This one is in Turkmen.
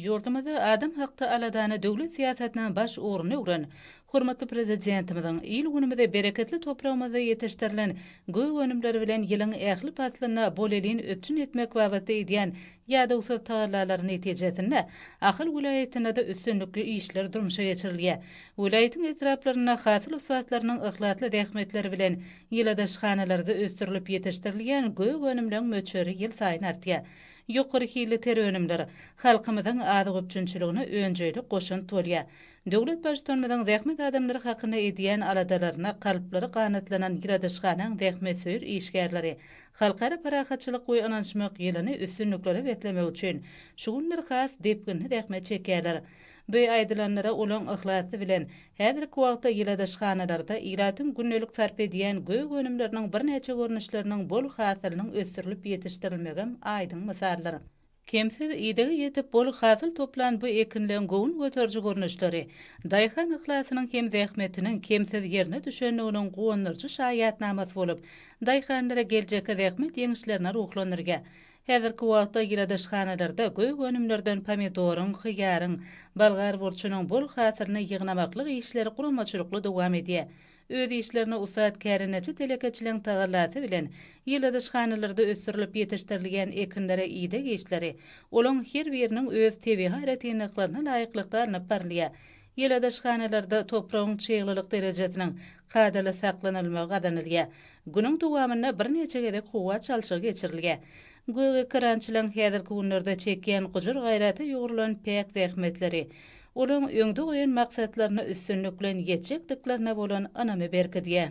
Ýurdumyzda adam hakda aladany döwlet syýasatynyň baş ugruny öwren hormatly Prezidentimiziň il-günümizi bereketli topragymyzda ýetişdirilen gök önümleri bilen ýylyň ähli paslynda bolelin üpjün etmek babatda edýän ýadawsyz tagallalary netijesinde Ahal welaýatynda-da üstünlikli işler durmuşa geçirilýär. Welaýatyň etraplarynda hasyl ussatlarynyň yhlasly zähmetleri bilen ýyladaşhanalarda ösdürilip ýetişdirilýän gök önümleň möçberi ýylsaýyn artýar. Ýokary hilli ter önümler halkymyzyň azyk üpjünçiligine önjeýli goşant bolýar. Döwlet Baştutanymyzyň zähmet adamlary hakynda edýän aladalaryna kalplary ganatlanan ýyladyşhanaň zähmetsöýer işgärleri Halkara parahatçylyk we ynanyşmak ýylyny üstünliklere beslemek üçin şu günler has depginli zähmet çekýärler. Bu aýdylanlara olaň yhlasy bilen Häzirki wagtda ýyladyşhanalarda ilatyň gündelik sarp edýän gök önümleriniň birnäçe görnüşleriniň bol hasylynyň ösdürilip ýetişdirilmegem aýdyň mysaldyr. Kemsiz idege ýetip, bol hasyl toplan bu ekinleň göwün göteriji görnüşleri daýhan yhlasynyň hem zähmetiniň kemsiz ýerine düşendiginiň guwandyryjy şaýatnamasy bolup, daýhanlary geljekki zähmet ýeňişlerine ruhlandyrýar. Häzirki wagtda ýyladyşhanalarda göý önümlerden pomidoryň, hyýaryň, bolgar burçunyň bol hasylyny ýygnamaklyk işleri guramaçylykly dowam edýär. Öz işlerine ussat kärendeçi telekeçileň tagallasy bilen ýyladyşhanalarda ösdürilip ýetişdirilýän ekinlere ideg işleri, olaň her biriniň öz tebigy aýratynlyklaryna laýyklykda alnyp barylýar. Ýyladyşhanalarda topragyň çyglylyk derejesiniň kadaly saklanylmagy gazanylýar. Günüň dowamynda birnäçe gezek howa çalşygy geçirilýär. Gögekerançylaryň häzirki günlerde çekýän gujur-gaýrata ýugrulan päk zähmetleri, olaryň öňde goýan maksatlaryna üstünlik bilen ýetjekdiklerine bolan ynamy berkidýär.